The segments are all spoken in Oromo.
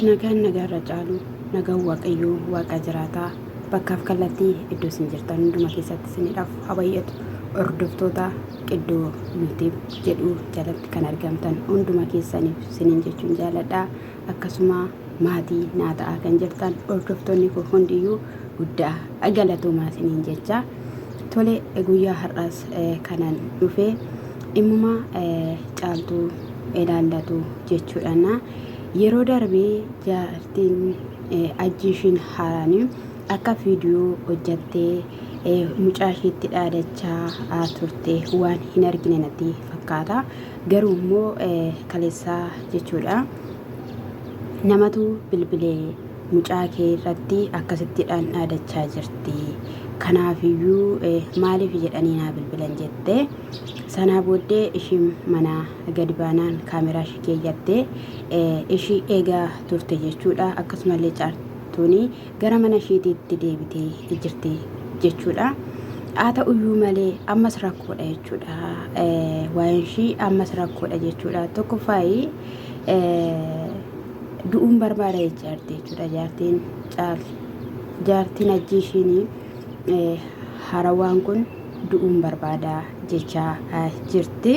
Nagaan nagaa irra caalu nagaan waaqayyoo waaqaa jiraataa bakkaaf kallattii iddoo isin jirtan hunduma keessatti isiniidhaaf haa baay'atu hordoftoota qiddoo yuutiib jedhu jalatti kan argamtan hunduma keessaniif isiniin jechuun jaaladha akkasuma maatii naa ta'aa kan jirtan hordoftoonni koo hundiyyuu guddaa galatoomaa isiniin jechaa Tole guyyaa har'aas kanan dhufe dhimmuma caaltuu ilaallatu jechuudhaana. Yeroo darbe jaartiin ajjiishiin haaraan akka viidiyoo hojjattee mucaa isheetti dhaadachaa turte waan hin argine natti fakkaata. Garuu immoo kaleessaa jechuudha namatu bilbilee mucaa kee irratti akkasittidhaan dhaadachaa jirti. Kanaafiyyuu maaliif jedhanii naa bilbilan jette. Sanaa booddee ishiin manaa gadi baanaan kaameraa ishii keeyyattee ishii eegaa turte jechuudha. Akkasumallee caartuun gara mana ishiitiitti deebitee jirti jechuudha. Haa ta'uyyuu malee ammas rakkoodha jechuudha. Waa'een ishii ammas rakkoodha jechuudha. Tokkoffaayi du'uun barbaada jecha jirti jechuudha jaartiin caalti jaartiin ajjii ishiin harawaan kun du'uun barbaada jechaa jirti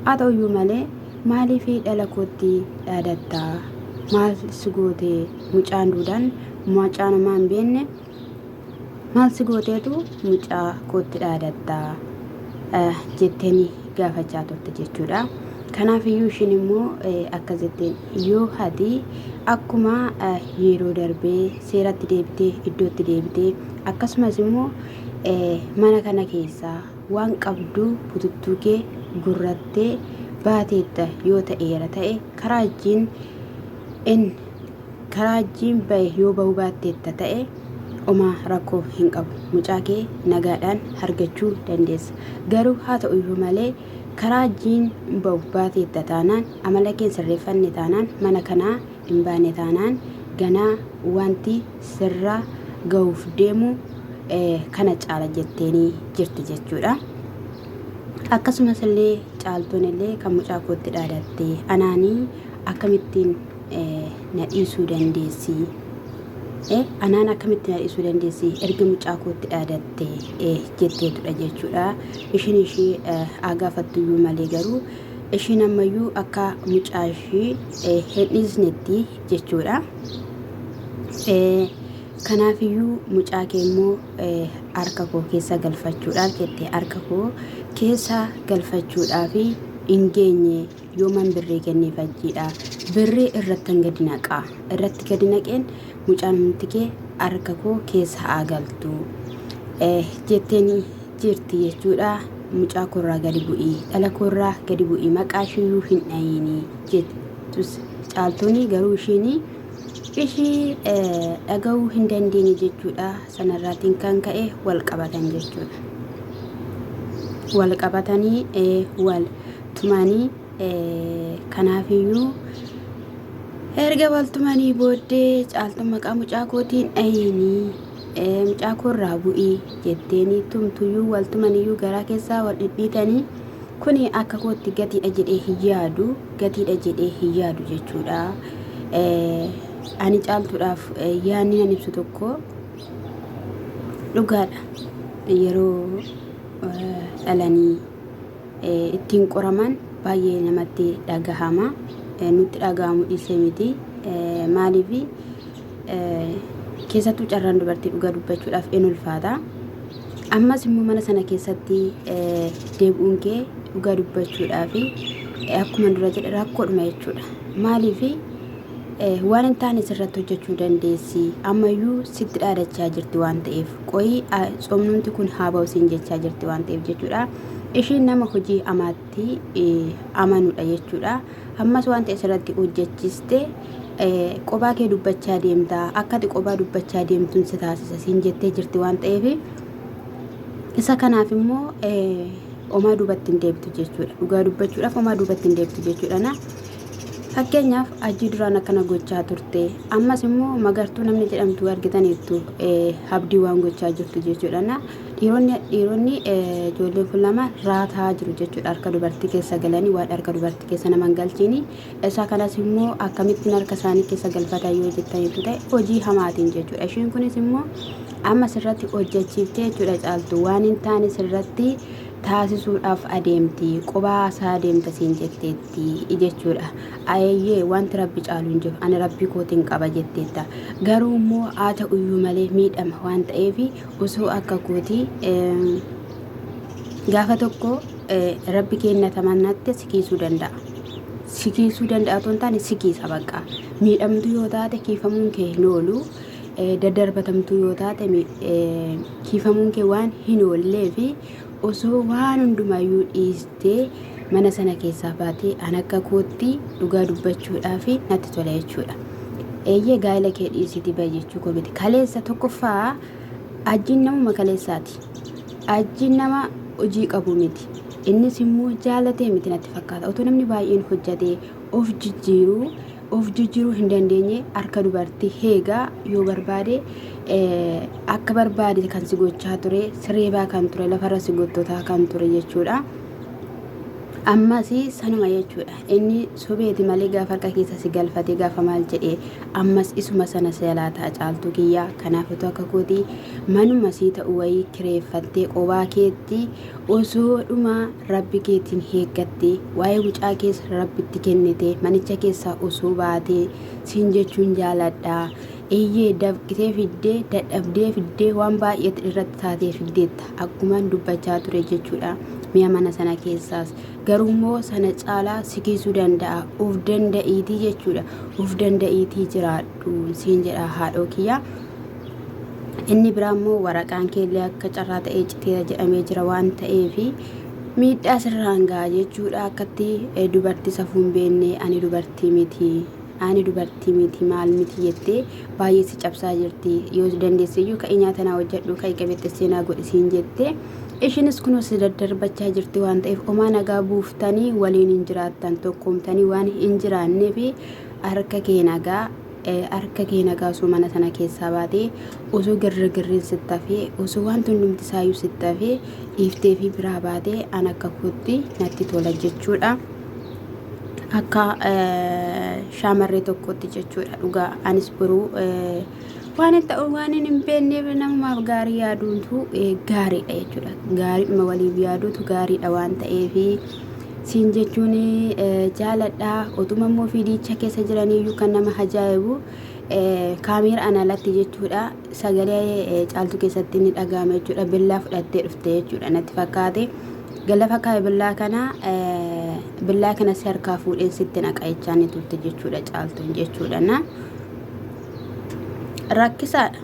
haa ta'uyyuu malee maaliif dhala kootti dhaadattaa maal si gootee mucaan duudaan mucaan homaa hin beekne Maal si gooteetu mucaa kootti dhaadatta jetteen gaafachaa turte jechuudha. Kanaaf iyyuu ishiin immoo akkas jetteen yoo hati akkuma yeroo darbee seeratti deebitee iddootti deebitee akkasumas immoo mana kana keessaa waan qabdu bututtuu kee gurrattee baateetta yoo ta'eera ta'e karaa ittiin in Karaa jiim bahe yoo bahuu baatteetta ta'e omaa rakkoo hin qabu. Mucaa kee nagaadhaan argachuu dandeessa. Garuu haa ta'u iyyuu malee karaa jiin bahu baateetta taanaan amala kee hin sirreeffanne taanaan mana kanaa hin baane taanaan ganaa wanti sirra gahuuf deemu kana caala jetteenii jirti jechuudha. Akkasumas illee caaltuun illee kan mucaa kootti dhaadattee anaanii akkamittiin na dhiisuu dandeessi eh, anaan akkamitti na dhiisuu dandeessi erga mucaa kootti dhaadatte eh, jetteetudha jechuudha ishiin ishii eh, haa gaafattuyyuu malee garuu ishiin ammayyuu akka mucaa ishii eh, hin dhiisnetti jechuudha. Eh, Kanaafiyyuu mucaa kee immoo eh, harka koo keessa galfachuudhaaf jette harka koo keessa galfachuudhaaf hin geenye yooman birrii kenneef hajjiidha birrii irrattan gadi naqaa irratti gadi naqeen mucaan tikee harka koo keessa haa galtu jetteen jirti jechuudha mucaa koorraa gadi bu'ii dhala koorraa gadi bu'ii maqaa ishiyyuu hin dhayiinii jettus caaltuunii garuu ishiinii ishii dhaga'uu hin dandeenye jechuudha sanarraatiin kan ka'e wal qabatan jechuudha. Wal qabatanii wal tumanii kanaafiyyuu erga wal tumanii booddee caaltuun maqaa mucaa kootiin dhayinii mucaa koorraa bu'ii jetteenii tumtuyyuu wal tumaniyyuu garaa keessaa wal dhidhiitanii kuni akka kootti gatiidha jedhee hin yaadu gatiidha jedhee hin yaadu jechuudha. Ani caaltuudhaaf yaadni nan ibsu tokko dhugaadha. Yeroo dhalanii ittiin qoraman baay'ee namatti dhagahama. Nutti dhagahamu dhiisee miti. Maaliif keessattuu carraan dubartii dhugaa dubbachuudhaaf in ulfaata. Ammas immoo mana sana keessatti deebi'uun kee dhugaa dubbachuudhaaf akkuma dura jedhe rakkoodhuma jechuudha. Maaliif waan hin taane sirratti hojjechuu dandeessi ammayyuu sitti dhaadachaa jirti waan ta'eef qoyii somnumti kun haa ba'u siin jechaa jirti waan ta'eef jechuudha ishiin nama hojii amaatti amanudha jechuudha ammas waan ta'e sirratti hojjechiste qobaa kee dubbachaa deemta akkati qobaa dubbachaa deemtuun si taasisa siin jettee jirti waan ta'eef isa kanaaf immoo omaa duubatti hin deebtu jechuudha dhugaa dubbachuudhaaf omaa duubatti hin deebtu jechuudha Fakkeenyaaf Hajjii duraan akkana gochaa turte ammas immoo magartuu namni jedhamtu argitaniittu habdii waan gochaa jirtu jechuudha. Dhiironni dhiironni ijoolleen kun lama raataa jiru jechuudha harka dubartii keessa galanii waan harka dubartii keessa nama hin galchiini. Isaa kanas immoo akkamittiin harka isaanii keessa galfata yoo jettaniittu ta'e hojii hamaatiin jechuudha. Ishiin kunis immoo amma sirratti hojjechiiftee jechuudha caaltu waan hin taane sirratti taasisuudhaaf adeemti qubaa isaa adeemta siin jetteetti. ti jechuudha. Ayeeyyee wanti Rabbi caalu hin jiru. Ani Rabbii kootiin qaba jetteetta. Garuu immoo haa ta'uyyuu malee miidhama waan ta'eef osoo akka kootii eh, gaafa tokko eh, Rabbi keenna tamannaatti si kiisuu danda'a. Si kiisuu danda'a otoo hin taane si kiisa baqqaa. Miidhamtuu yoo taate kiifamuun kee hin oolu. Eh, daddarbatamtuu yoo taate mi- eh, kiifamuun kee waan hin oollee fi Osoo waan hundumaayyuu dhiistee mana sana keessaa baatee an akka kootti dhugaa dubbachuudhaaf natti tola jechuudha. Eeyyee gaa'ela kee dhiisiti ba'i jechuu koo miti. Kaleessa tokkoffaa ajjiin namuma kaleessaati. Ajjiin nama hojii qabu miti. Innis immoo jaalatee miti natti fakkaata. Otoo namni baay'een hojjatee of jijjiiruu of jijjiruu hin dandeenye harka dubartii heegaa yoo barbaade akka barbaade kan si gochaa ture sireebaa kan ture lafarra si gottotaa kan ture jechuudha. Ammas sanuma jechuudha inni sobeeti malee gaafa harka keessa si galfate gaafa maal jedhe ammas isuma sana si jalaa ta'a caaltuu kiyyaa kanaaf utuu akka kooti manuma sii ta'u wayii kireeffattee qobaa keetti Osoo dhuma Rabbi keetiin heeggattee, waa'ee mucaa kees Rabbitti kennitee, manicha keessaa osoo baatee, siin jechuun jaaladha. Eeyyee, dafqitee fiddee, dadhabdee fiddee, waan baay'eetti irratti taatee fiddeetta, akkuman dubbachaa ture jechuudha. Mi'a mana sana keessaas. Garuummoo sana caalaa si kiisuu danda'a. Of danda'iitii jechuudha. Of danda'iitii jiraadhu siin jedha haadhoo kiyya. Inni biraa immoo waraqaan keellee akka carraa ta'ee citeera jedhamee jira waan ta'eef miidhaa sirraan ga'a jechuudha akkatti dubartii safuun beennee ani dubartii miti ani dubartii miti maal miti jettee baay'ee si cabsaa jirti yoo dandeesseyyuu ka'ii nyaata naa hojjedhu ka'ii qabeexxessee naa godhisiin jettee ishinis kunoo si daddarbachaa jirti waan ta'eef omaa nagaa buuftanii waliin hin jiraattan tokkoomtanii waan hin jiraanneef harka kee nagaa Harka kee nagaa osoo mana sana keessaa baatee, osoo girrigirriin sitti hafee, osoo wanti hundumti isaayyuu sitti hafee dhiiftee fi biraa baatee an akka kootti natti tola jechuudha. Akka eh, shaamarree tokkootti jechuudha dhugaa anis boruu eh, waan hin ta'u waan hin hin beekneef namumaaf gaarii yaaduutu eh, gaariidha jechuudha. Gaariidhuma waliif yaaduutu gaariidha waan ta'eefi. Siin jechuun jaaladha otuma immoo fiidiicha keessa jiraniyyuu kan nama hajaa'ibu kaameera ana alatti jechuudha sagalee caaltuu keessatti ni dhaga'ama jechuudha billaa fudhattee dhufte jechuudha natti fakkaate galafa kaa'e billaa kana billaa kana si harkaa fuudheen sitti naqa jechaa ni turte jechuudha caaltuun jechuudha na rakkisaadha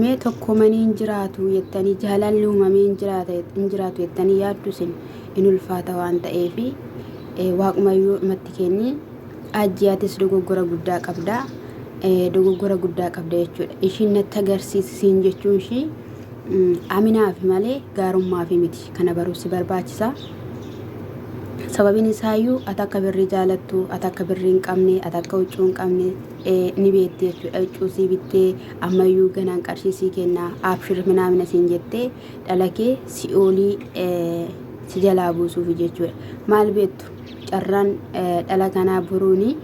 mee tokkomanii hin jiraatu jettanii jaalalli uumamee hin jiraatu jettanii yaaddu isin in ulfaata waan ta'eef waaqumayyuu matti kenni ajjiyaatis dogoggora guddaa qabda dogoggora guddaa qabda jechuudha ishiin natti agarsiisi siin jechuun ishii aminaaf malee gaarummaaf miti kana baruu si barbaachisa sababiin isaayyuu ati akka birrii jaalattu ati akka birrii hin qabne ati akka huccuu hin qabne ni beekti jechuudha huccuu sii bittee ammayyuu ganaan qarshii sii kennaa abshir minaamina siin jettee dhala kee si'oolii si jalaa buusuufi jechuudha. Maal beektu carraan dhala kanaa boruuni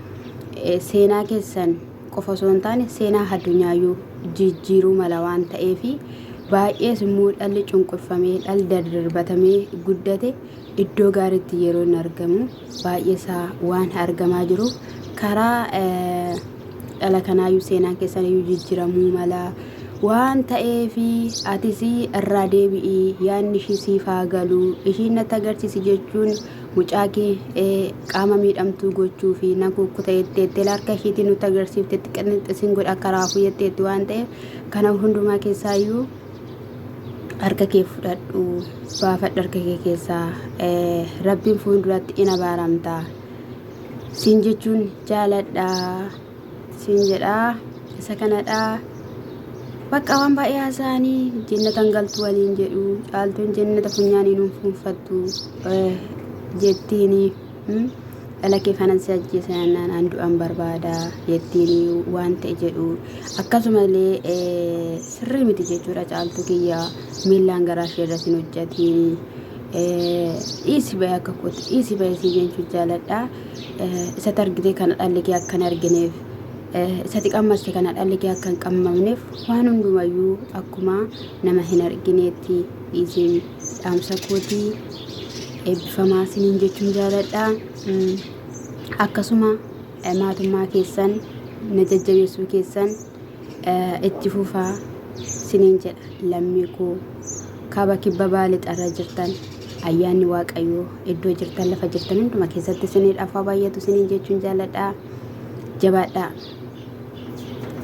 seenaa keessan qofa osoo hin taane seenaa addunyaayyuu jijjiiruu mala waan ta'eef baay'ees immoo dhalli cunqurfamee dhalli dardarbatamee guddate iddoo gaariitti yeroo hin argamu. baay'eesaa waan argamaa jiruuf karaa dhala kanaayyuu seenaan keessaniyyuu jijjiramuu mala waan ta'eefi atis irraa deebi'ii yaadni ishii siif haa galu ishiin natti agarsiisi jechuun mucaa kee eh, qaama miidhamtuu gochuu fi nan kukkuta jetteetti harka ishiitiin nutti agarsiiftetti qinxisiin godha akka raafuu jetteetti waan ta'eef kana hundumaa keessaayyuu harka kee fudhadhu baafadhu harka kee keessaa rabbiin fuulduratti in abaaramta siin jechuun jaaladha siin jedhaa isa kanadhaa bakka waan baay'ee haasa'anii jennatan galtu waliin jedhu caaltuun jennata funyaanii nuuf fuunfattu jettiini. dhala kee kanan si ajjeesa jennaan an du'an barbaada jettiin waan ta'e jedhu akkasumallee eh, sirrii miti jechuudha caaltuu kiyya miillaan garaa ishee irratti hin hojjetiin eh, dhiisi bahee akka kootti dhiisi bahee sii jechuu jaaladha Eh, isatti argitee kana dhalli kee akka hin argineef eh, isatti qammaste kana dhalli kee akka hin qammamneef waan hundumayyuu akkuma nama hin argineetti dhiisiin dhaamsa kooti eebbifamaa siniin jechuun jaaladha. Mm, Akkasuma eh, maatummaa keessan na jajjabeessuu keessan eh, itti fufaa siniin jedha lammii koo kaaba kibba bahaa lixarra jirtan ayyaanni waaqayyoo iddoo jirtan lafa jirtan hunduma keessatti siniidhaaf haa baay'atu siniin jechuun jaaladha jabaadhaa.